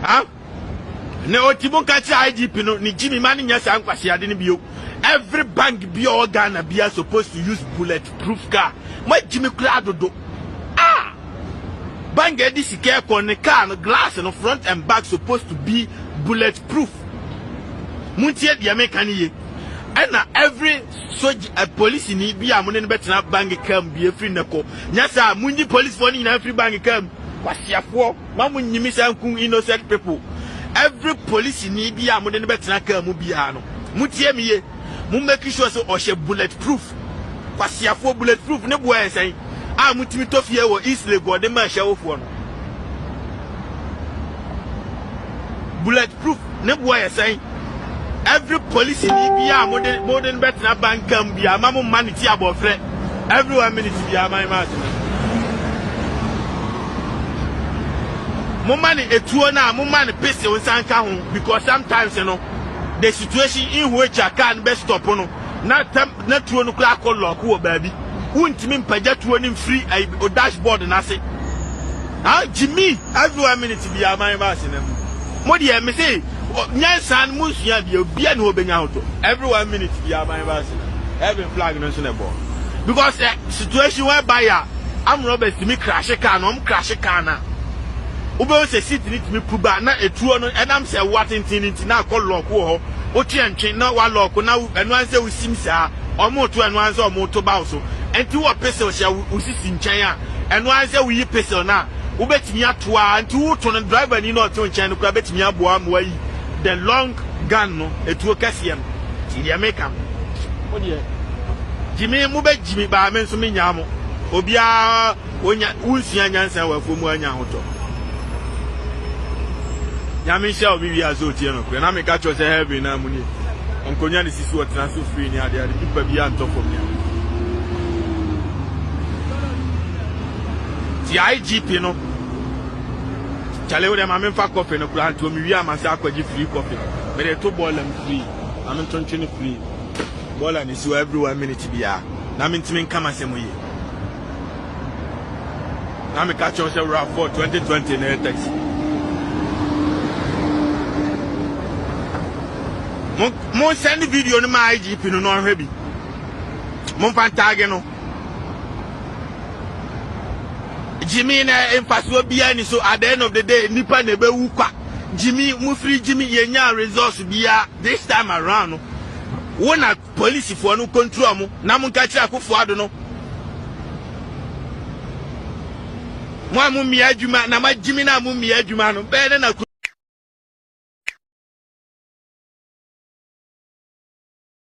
ha na ɔti mu ka kyerɛ idp no ne gyimi ma no nyɛ saa nkwaseade no bio every bank bi a ɔwɔ ghana bia supposed to use bullet proof car magyimi koraa dodo ah bank ɛde sika ɛkɔ ne car no glass no front and back supposed to be bullet proof montie deɛ meka no ye ɛna every Sogye, eh, polisini bi a mo ne no bɛtena bank kaa mu bi afiri nnɛ kɔ. Nyɛ saa! Munyi polisifoɔ no nyinaa mfiri bank kaa mu. Kwaseafoɔ, ma mo nyimi saa nku innocent people. Every polisini bi a mo de no bɛtena kaa mu biara no, motie me ye, mo make sure sɛ ɔhyɛ bullet proof. Kwaseafoɔ, bullet proof ne boɔ yɛ sɛn a motumi tɔ fie wɔ East Lake wɔde ma ahyɛwofoɔ no? Bullet proof ne boɔ yɛ sɛn? Every polisini biaa a mode mode no bɛtena banka mu biaa ma mo mma no ti abɔfrɛ every one minute biaa man ma atena. Moma no etuo no a moma no pesew nsa nka ho because sometimes no the situation in which a car no bɛ stop no na tɛm na tuo no koraa kɔ lɔɔk wɔ baabi. Wontumi mpagya tuo no mfiri ayi dash board no ase. Ha gyimi every one minute biara man ba asena mu. Mo deɛ me se nyansa no mo nsua bia obia ne hɔ bɛnya ho tɔ. Every one minute biara man ba asena. Heaven flag no nso na ɛbɔ. Because eh, situation whereby a arm robbers tumi crashe car no, wɔn crashe car no a, wobɛhu sɛ seat no tumi pu ba na etuo no ɛnam sɛ ɛwoa tenten no nti na akɔ lɔɔk wɔ hɔ. wo to ɛntwe na wa lock na wo ɛno ansɛ wo sim saa ɔmo to ɛno ansɛ ɔmo to bawo so ɛnti wɔ pixel hyɛ wo sisi nkyɛn a ɛno ansɛ wo yi pixel no a wo bɛtumi ato a ɛnti wo to no driver ni na ɔte wo nkyɛn no kora bɛtumi aboa ama wa yi the long gun no ɛtuo kɛseɛ no ti deɛ me ka no mo deɛ gyimi mo bɛ gyimi baa me nso me nyaa mo obiara. Wonya wonsua nyansa wɔ afuom anya ahotɔ. Nyame nhyira wo me wie a sɛ otie nokorɛ na meka kyerɛ sɛ heaven na mu nie ɔnkonwa ne sisi ɔtena so free ne ade ade pipa bi antɔ fam ne ade ti IGP no kyale wo dɛ ma memfa kɔfe no koraa nto mewie a masa akɔgye free kɔfe mede to bɔɔla m free ma mentontwe no free bɔɔla no si hɔ every one minute biara na mentumi nka m'asɛm yie na me ka kyerɛ sɛ wura fɔ twenty twenty na yɛ taxi mo mo send video no ma igp no na ɔhwɛ bi mo nfa ntaage no jimmy na mfasoɔ biara ni so at the end of the day nipa na ebe wu kwa jimmy mo firi jimmy yɛ nya resource biara this time around no wo na. Polisifɔɔ no nkontrɔɔ mo, na monka nkyerɛ Akuffo Addo no, Mo a mommia adwuma na moagyimi no a mommia adwuma no, bɛyɛ dɛn na.